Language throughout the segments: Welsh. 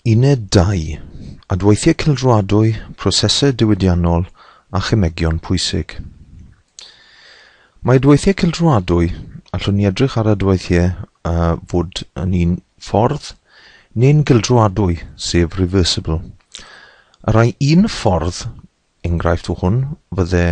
Uned 2, Adweithiau Cylchroadwy, Prosesau Diwydiannol a Chemegion Pwysig. Mae adweithiau cylchroadwy, allwn ni edrych ar adweithiau a fod yn un ffordd neu'n gylchroadwy, sef reversible. Ar rai un ffordd, Enghraifft o hwn fydde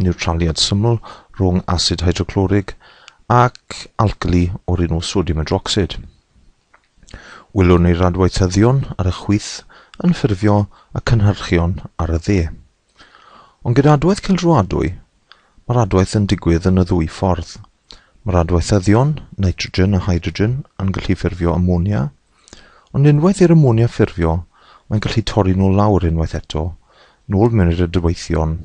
niwtraliad syml rhwng asid hydroclorig ac alcali o'r enw sodiwm hydrocsid. Welwn ni'r adweithyddion ar y chwith yn ffurfio y cynhyrchion ar y dde. Ond gyda adwaith cildroadwy, mae'r adwaith yn digwydd yn y ddwy ffordd. Mae'r adweithyddion, nitrogen a hydrogen, yn gallu ffurfio amonia, Ond unwaith i'r amonia ffurfio, mae'n gallu torri nhw lawr unwaith eto, nôl mewn i'r adweithion,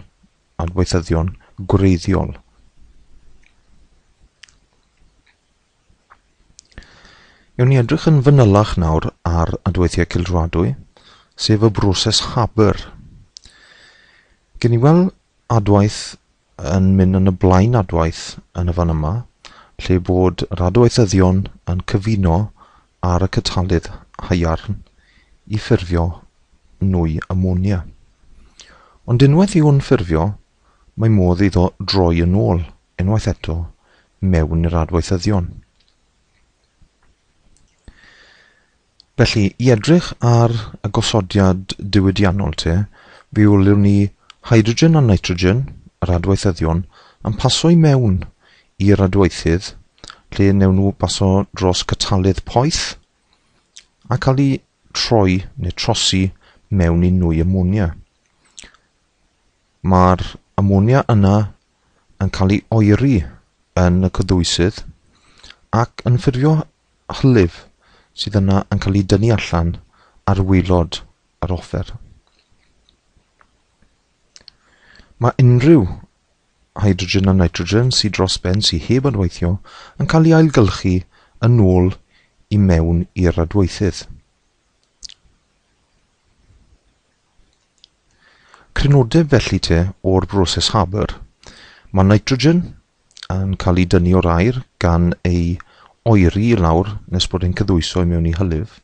adweithyddion gwreiddiol. Ewn ni edrych yn fanylach nawr ar adweithiau cildroadwy, sef y broses Haber. Gen i weld adwaith yn mynd yn y blaen adwaith yn y fan yma, lle bod yr adweithyddion yn cyfuno ar y catalydd haearn i ffurfio nwy amonia. Ond unwaith i'w ffurfio, mae modd iddo droi yn ôl, unwaith eto, mewn i'r adweithyddion. Felly, i edrych ar y gosodiad diwydiannol te, fe olion ni hydrogen a nitrogen, yr adweithyddion, yn paso i mewn i'r adweithydd, lle newn nhw baso dros catalydd poeth, a cael eu troi neu trosi mewn i nwy amonia. Mae'r amonia yna yn cael ei oeri yn y cyddwysydd ac yn ffurfio hylif sydd yna yn cael ei dynnu allan ar waelod yr offer. Mae unrhyw hydrogen a nitrogen sydd dros ben sydd heb adweithio yn cael ei ailgylchu yn ôl i mewn i'r adweithydd. Crynodeb felly te o'r broses Haber. Mae nitrogen yn cael ei dynnu o'r aer gan ei oeri i lawr nes bod e'n cyddwyso i mewn i hylif,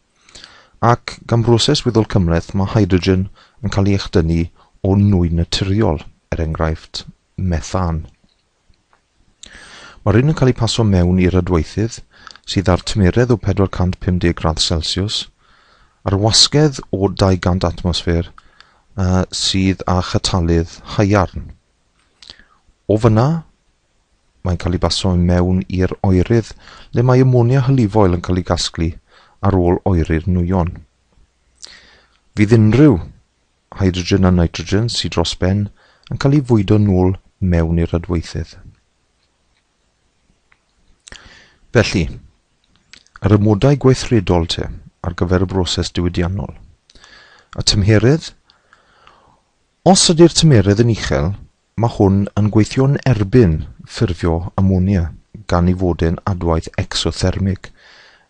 ac gan broses weddol cymhleth mae hydrogen yn cael ei echdynnu o nwy naturiol, er enghraifft, methan. Mae'r rhain yn cael eu pasio mewn i rydweithydd sydd â'r tymeredd o 450 gradd Celsiws, a'r wasgedd o 200 atmosffer uh, sydd â chatalydd haearn. O fyna, mae'n cael ei basio i mewn i'r oerydd le mae amonia hylifoel yn cael ei gasglu ar ôl oeri'r nwyon. Fydd unrhyw hydrogen a nitrogen sydd dros ben yn cael ei fwydo nôl mewn i'r adweithydd. Felly, yr amodau gweithredol te ar gyfer y broses diwydiannol. A tymheredd? Os ydy'r tymheredd yn uchel, Mae hwn yn gweithio'n erbyn ffurfio amonia gan ei fod e'n adwaith ecsothermig,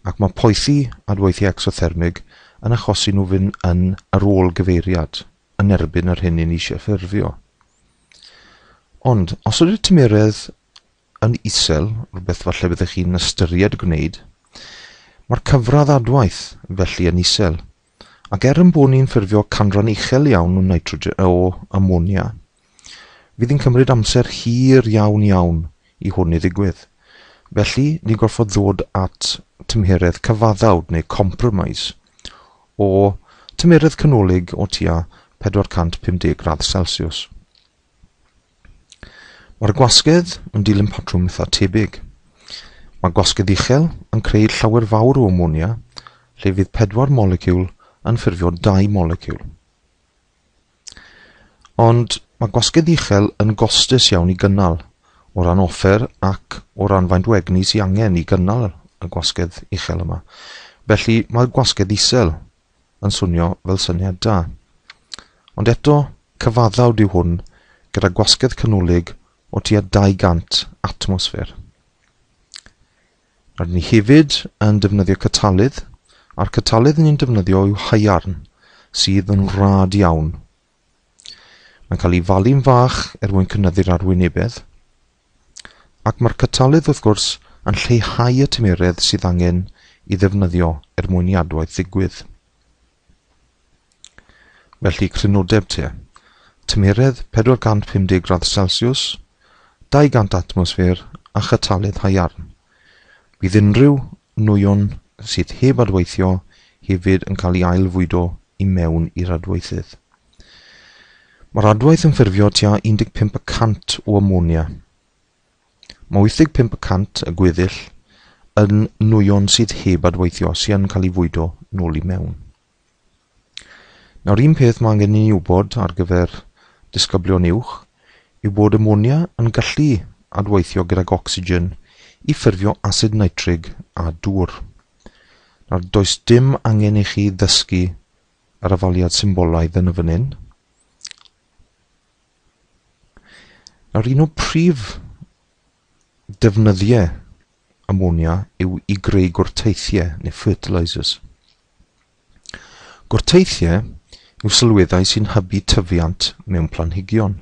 ac mae poethi adweithiau ecsothermig yn achosi nhw fynd yn yr ôl gyfeiriad yn erbyn yr hyn 'yn ni eisiau ffurfio. Ond, os ydy'r tymeredd yn isel, rhywbeth falle byddech chi'n ystyried gwneud, mae'r cyfradd adwaith felly yn isel. ac er ein bod ni'n ffurfio canran uchel iawn o nitrogen o amonia, fydd yn cymryd amser hir iawn iawn i hwn i ddigwydd. Felly, ni'n gorfod ddod at tymheredd cyfaddawd neu compromise o tymheredd canolig o tua 450 gradd Celsius. Mae'r gwasgedd yn dilyn patrwm eitha tebyg. Mae gwasgedd uchel yn creu llawer fawr o amonia lle fydd pedwar moleciwl yn ffurfio dau moleciwl. Ond mae gwasgedd uchel yn gostus iawn i gynnal o ran offer ac o ran faint o egni sy'n angen i gynnal y gwasgedd uchel yma. Felly mae gwasgedd isel yn swnio fel syniad da. Ond eto, cyfaddawd yw hwn gyda gwasgedd canolig o tua 200 atmosffer. Rydyn ni hefyd yn defnyddio catalydd, a'r catalydd ni'n defnyddio yw haearn, sydd yn rad iawn Mae'n cael ei falu'n fach er mwyn cynyddu'r arwynebedd. Ac mae'r catalydd, wrth gwrs, yn lleihau y tymeredd sydd angen i ddefnyddio er mwyn i adwaith ddigwydd. Felly crynodeb te, tymeredd 450 gradd Celsius, 200 atmosffer a chatalydd haearn. Bydd unrhyw nwyon sydd heb adweithio hefyd yn cael ei ail-fwydo i mewn i'r adweithydd. Mae'r adwaith yn ffurfio tua 15 y cant o amonia. Mae 85 y cant y gweddill yn nwyon sydd heb adweithio sy'n cael ei fwydo nôl i mewn. Nawr un peth mae angen i ni wybod ar gyfer disgyblion uwch yw bod amonia yn gallu adweithio gydag ocsigen i ffurfio asid nitrig a dŵr. Nawr does dim angen i chi ddysgu yr afaliad symbolaidd yn y fan hyn. Nawr un o prif Defnyddiau amonia yw i greu gwrteithiau neu fertilisers. Gwrteithiau yw sylweddau sy'n hybu tyfiant mewn planhigion,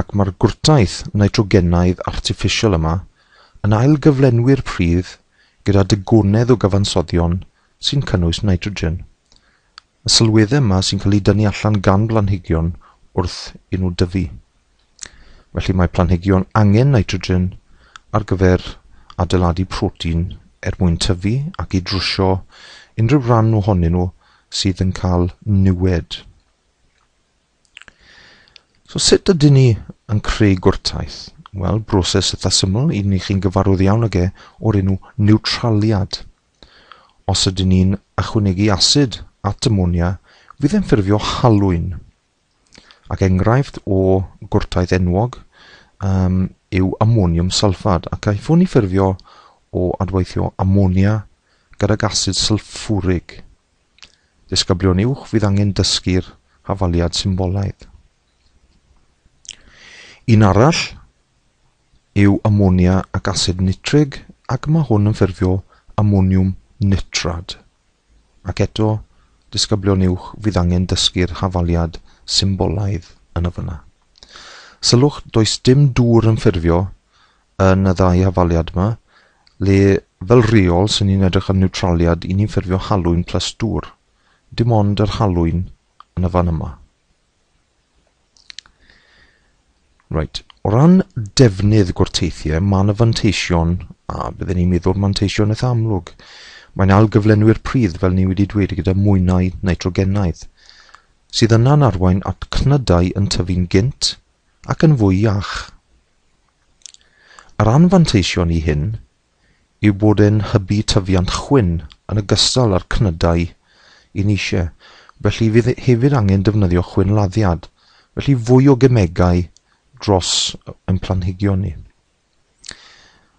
ac mae'r gwrtaith nitrogenaidd artiffisial yma yn ailgyflenwi'r pridd gyda digonedd o gyfansoddion sy'n cynnwys nitrogen. Y sylweddau yma sy'n cael eu dynnu allan gan blanhigion wrth i nhw dyfu. Felly mae planhigion angen nitrogen ar gyfer adeiladu protein er mwyn tyfu ac i drwsio unrhyw ran ohonyn nhw sydd yn cael niwed. So sut ydyn ni yn creu gwrtaith? Wel, broses eitha syml, un i chi'n gyfarwydd iawn ag e, o'r enw niwtraliad. Os ydyn ni'n ychwanegu asid at amonia fydd e'n ffurfio halwyn. Ac enghraifft o gwrtaith enwog um, yw amoniwm sylffad ac aethwn ni ffurfio o adweithio amonia gydag asid sylffwrig. Disgyblion uwch fydd angen dysgu'r hafaliad symbolaidd. Un arall yw amonia ac asid nitrig ac mae hwn yn ffurfio amoniwm nitrad. Ac eto, disgyblion uwch, fydd angen dysgu'r hafaliad symbolaidd yn y fyna. Sylwch, does dim dŵr yn ffurfio yn y ddau hafaliad yma, le fel reol sy'n ni'n edrych am niwtraliad i ni'n ffurfio halwyn plus dŵr. Dim ond yr halwyn yn y fan yma. Right. O ran defnydd gwrteithiau, mae yna fanteision, a byddwn ni'n meddwl manteision eitha amlwg. Mae'n algyflenwi'r pridd, fel ni wedi dweud, gyda mwynau nitrogenaidd, sydd yna'n arwain at cnydau yn tyfu'n gynt ac yn fwy iach. Yr anfanteision i hyn yw bod e'n hybu tyfiant chwyn yn ogystal â'r cnydau i niche, felly fydd hefyd angen defnyddio chwyn laddiad, felly fwy o gemegau dros ein planhigion ni.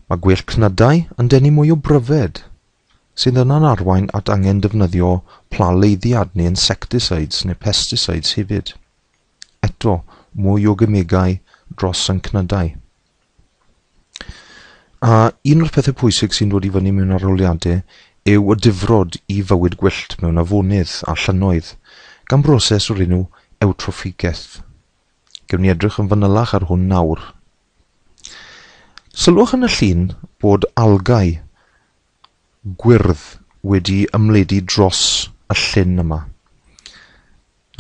Mae gwell cnydau yn denu mwy o bryfed, sydd yna'n arwain at angen defnyddio pla leiddiad neu insecticides neu pesticides hefyd. Eto, mwy o gemegau dros ein cnydau. A un o'r pethau pwysig sy'n dod i fyny mewn arholiadau yw y difrod i fywyd gwyllt mewn afonydd a llynnoedd, gan broses o'r enw ewtroffigeth. Gewn ni edrych yn fanylach ar hwn nawr. Sylwch yn y llun bod algau gwyrdd wedi ymledu dros y llyn yma.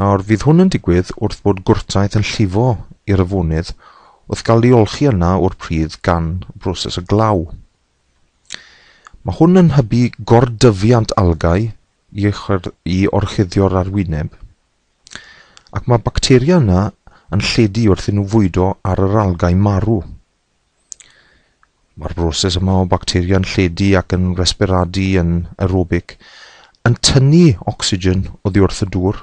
Nawr, fydd hwn yn digwydd wrth bod gwrtaith yn llifo i'r afonydd wrth gael ei olchi yna o'r pridd gan y broses o glaw. Mae hwn yn hybu gordyfiant algâu i, i orchuddio'r arwyneb, ac mae bacteria yna yn lledu wrth i nhw fwydo ar yr algâu marw. Mae'r broses yma o bacteria'n lledu ac yn resberadu yn aerobic yn tynnu ocsigen oddi wrth y dŵr,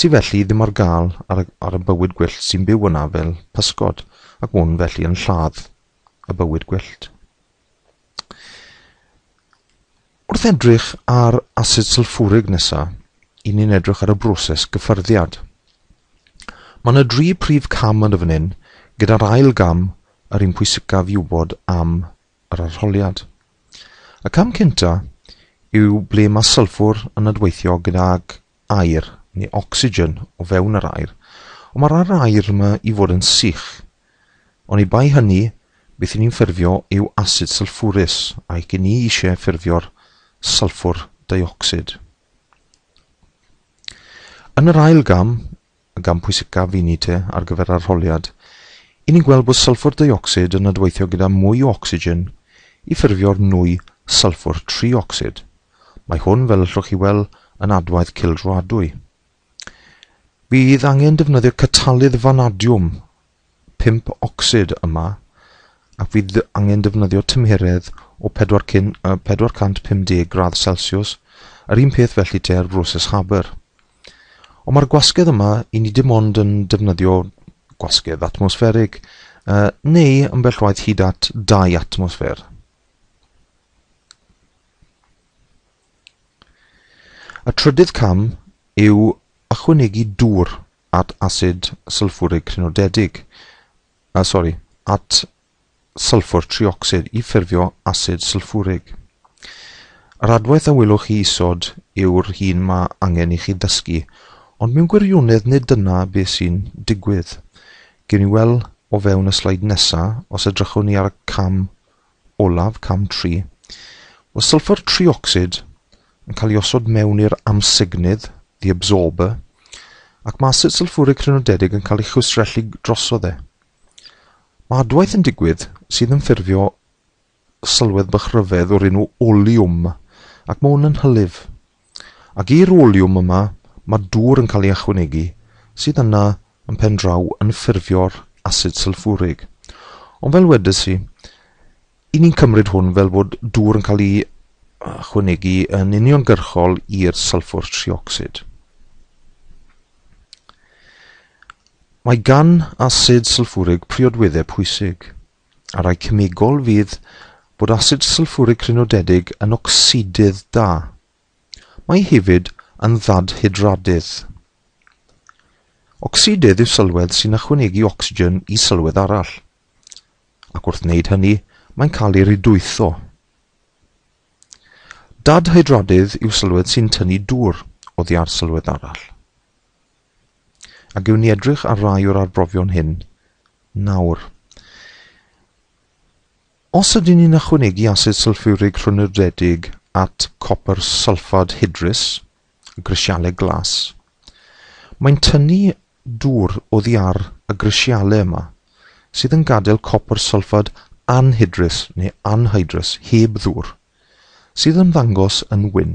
sydd felly ddim ar gael ar y, ar y bywyd gwyllt sy'n byw yna fel pysgod, ac hwn felly yn lladd y bywyd gwyllt. Wrth edrych ar asid sylffwrig nesa, i ni'n edrych ar y broses gyffyrddiad. Mae yna dri prif cam yn y fan hyn, gyda'r ail gam yr un pwysicaf i wybod am yr arholiad. Y cam cynta yw ble mae sylffwr yn adweithio gydag aer, neu ocsigen o fewn yr aer, ond mae'r rhan aer yma i fod yn sych. Oni bai hynny, beth i ni'n ffurfio yw asid sylffwrus, ac i ni eisiau ffurfio'r sylffwr deuocsid. Yn yr ail gam, y gam pwysicaf i ni te ar gyfer arholiad, i ni'n gweld bod sylffwr deuocsid yn adweithio gyda mwy o ocsigen i ffurfio'r nwy sylffwr triocsid. Mae hwn, fel allwch chi weld, yn adwaith cildroadwy. Bydd angen defnyddio catalydd fanadiwm pump ocsid yma ac fydd angen defnyddio tymheredd o 450 gradd celsiws, yr un peth felly tua'r broses Haber. Ond mae'r gwasgedd yma i ni dim ond yn defnyddio gwasgedd atmosfferig, neu ambell waith hyd at dau atmosffer. Y trydydd cam yw ychwanegu dŵr at asid sylffwrig crynodedig, uh, sori, at sylffwr triocsid i ffurfio asid sylffwrig. Yr adwaith a welwch chi isod yw'r hun mae angen i chi ddysgu, ond mewn gwirionedd nid dyna beth sy'n digwydd. Gewn ni weld o fewn y sleid nesaf os edrychwn ni ar y cam Olaf, cam tri. Mae sylffwr triocsid yn cael ei osod mewn i'r amsugnydd, the absorber, ac mae asid sylffwrig crynodedig yn cael ei chwistrellu drosodd e. Mae adwaith yn digwydd sydd yn ffurfio sylwedd bach ryfedd o'r enw oleum, ac mae hwn yn hylif. Ac i'r oliwm yma mae dŵr yn cael ei ychwanegu sydd yna yn pen draw yn ffurfio'r asid sylffwrig. Ond fel wedes i, i ni'n cymryd hwn fel bod dŵr yn cael ei ychwanegu yn uniongyrchol i'r sylffwr triocsid. Mae gan asid sylffwrig priodweddau pwysig. a rhai cemegol fydd bod asid sylffwrig crynodedig yn ocsidydd da. Mae hefyd yn ddadhydradydd. Ocsidydd yw sylwedd sy'n ychwanegu ocsigen i sylwedd arall, ac wrth wneud hynny mae'n cael ei rydwytho. Dadhydradydd yw sylwedd sy'n tynnu dŵr oddi ar sylwedd arall. A gewn ni edrych ar rai o'r arbrofion hyn nawr. Os ydyn ni'n ychwanegu asid sylffurig rhwnnydedig at copr sylffad hydrus, y grisialau glas, mae'n tynnu dŵr oddi ar y grisialau yma, sydd yn gadael copr sylffad anhydrus neu anhydrus heb ddŵr, sydd yn ddangos yn wyn.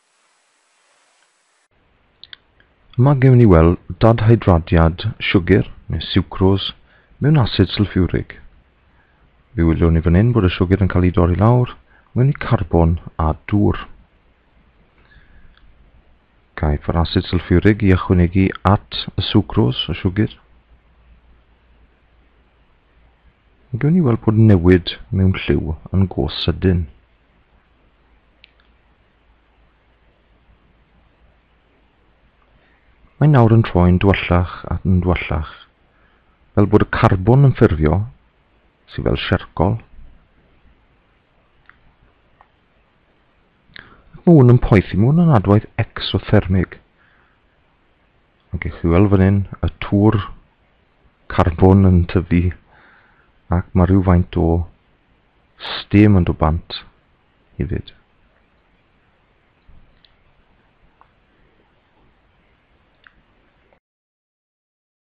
Mae gewn ni weld dadhydradiad siwgr, neu siwcrôs, mewn asid sylffiwrig. Fe wyliwn ni fan hyn bod y siwgr yn cael ei dorri lawr mewn i carbon a dŵr. Caiff yr asid sylffiwrig i ychwanegu at y siwcrôs o siwgr. Mae gewn ni weld bod newid mewn lliw yn gos sydyn. Mae nawr yn troi'n dwyllach ac yn dwyllach, fel bod y carbon yn ffurfio, sydd fel siarcol. Ac mae hwn yn poethi, mae hwn yn adwaith exothermig. Mae gennych chi weld fan hyn y tŵr carbon yn tyfu ac mae rhyw faint o Sdim ond o bant i fyd.